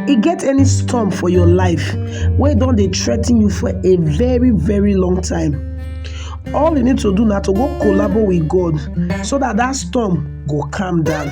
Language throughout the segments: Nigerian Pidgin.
E get any storm for your life wey don dey threaten you for a very very long time, all you need to do na to go collabo with God so dat dat storm go calm down.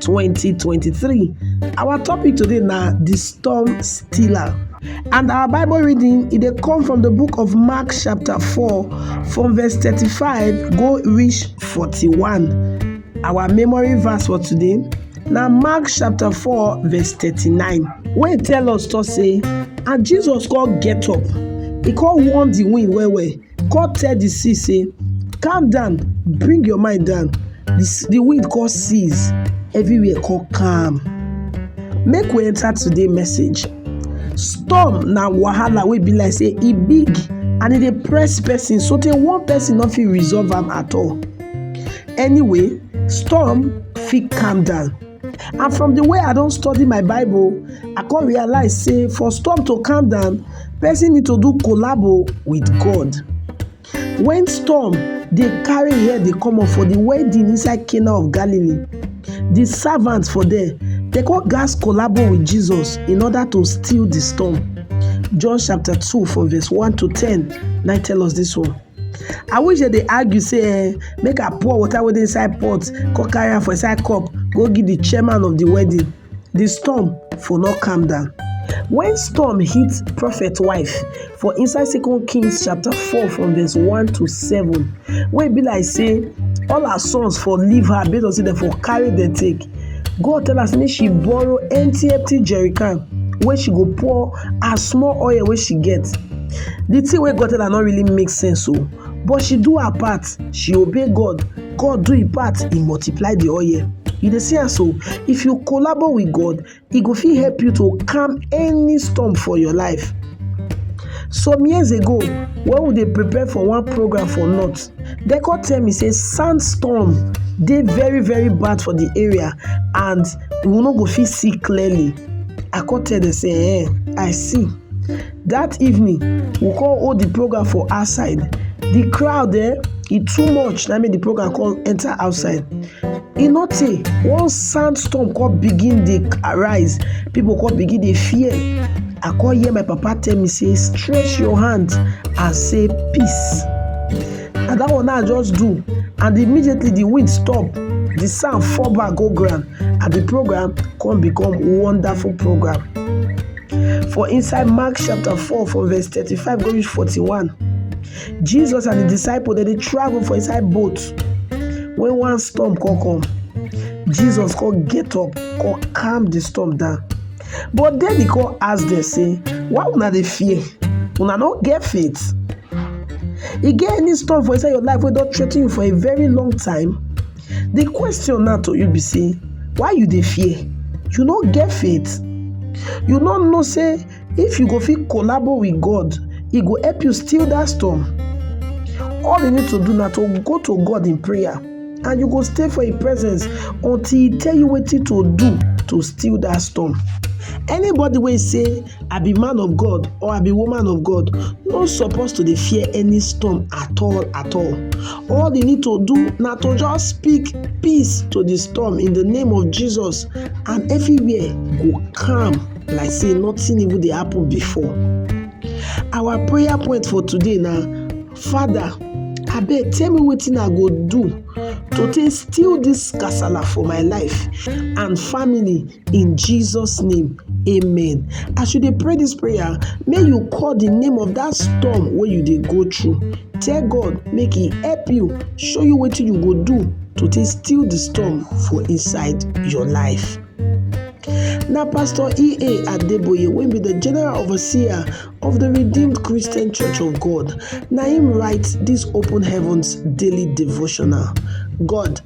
2023. Our topic today na the storm stiller. And our Bible reading it dey come from the book of Mark chapter 4 from verse 35 go reach 41. Our memory verse for today na Mark chapter 4 verse 39 wey tell us to say and Jesus come get up, he come warn the wind well well come tell the sea say, Calm down, bring your mind down. The, the wind come cease, everywhere come calm. Make we enter today message. Storm na wahala wey be like say e big and e dey press person so tey one person no fit resolve am at all. Anyway, storm fit calm down. and from the way i don study my bible i come realize say for storm to calm down person need to do collabo with god when storm dey carry head dey come up for the wedding inside cana of galilee the servants for there dey come gas collabo with jesus in order to still the storm john chapter two from verse one to ten na tell us this one. I wish dem dey argue say eh, make I pour water wey dey inside pot, come carry am for inside cup, go give the chairman of the wedding. The storm for not calm down. When storm hit prophet wife for inside Second Kings chapter 4 from verse 1 to 7, where it be like say all her sons for leave her based on say they for carry the take. God tell her say make she borrow empty empty jerrycan where she go pour her small oil wey she get the thing wey God tell her no really make sense o but she do her part she obey God God do him part he multiply the oil you dey see am so if you collabo with God he go fit help you to calm any storm for your life some years ago when we dey prepare for one program for north dem come tell me say sandstorm dey very very bad for the area and we no go fit see clearly i come tell dem say eh i see that evening we come hold the program for outside the crowd eh e too much na make the program come enter outside e no tey one sandstorm come begin dey arise people come begin dey fear i come hear my papa tell me say stretch your hand and say peace and that one now just do and immediately the wind stop the sound fall back go ground and the program come become wonderful program for inside mark chapter four from verse thirty-five go reach forty-one jesus and the disciple dem dey travel for inside boat when one storm come come jesus come get up come calm the storm down but then he come ask them say why una dey fear una no get faith E get any storm for inside your life wey don threa ten you for a very long time? The question now to you be say why you dey fear? You no get faith? You no know say if you go fit collabo with God, e go help you still that storm? All you need to do na to go to God in prayer and you go stay for im presence until e tell you wetin to do to still that storm. Anybody wey say I be man of God or I be woman of God, no suppose to dey fear any storm at all at all. All you need to do na to just speak peace to the storm in the name of Jesus and everywhere go calm like say nothing even dey happen before. Our prayer point for today na Father abeg tell me wetin I go do to take steal this kasala for my life and family In Jesus' name, amen. As you dey pray this prayer, may you call the name of that storm where you dey go through. Tell God make He help you, show you what you go do to take steal the storm for inside your life. Now, Pastor E.A. Adeboye will be the general overseer of the Redeemed Christian Church of God. Now, him writes this Open Heavens daily devotional. God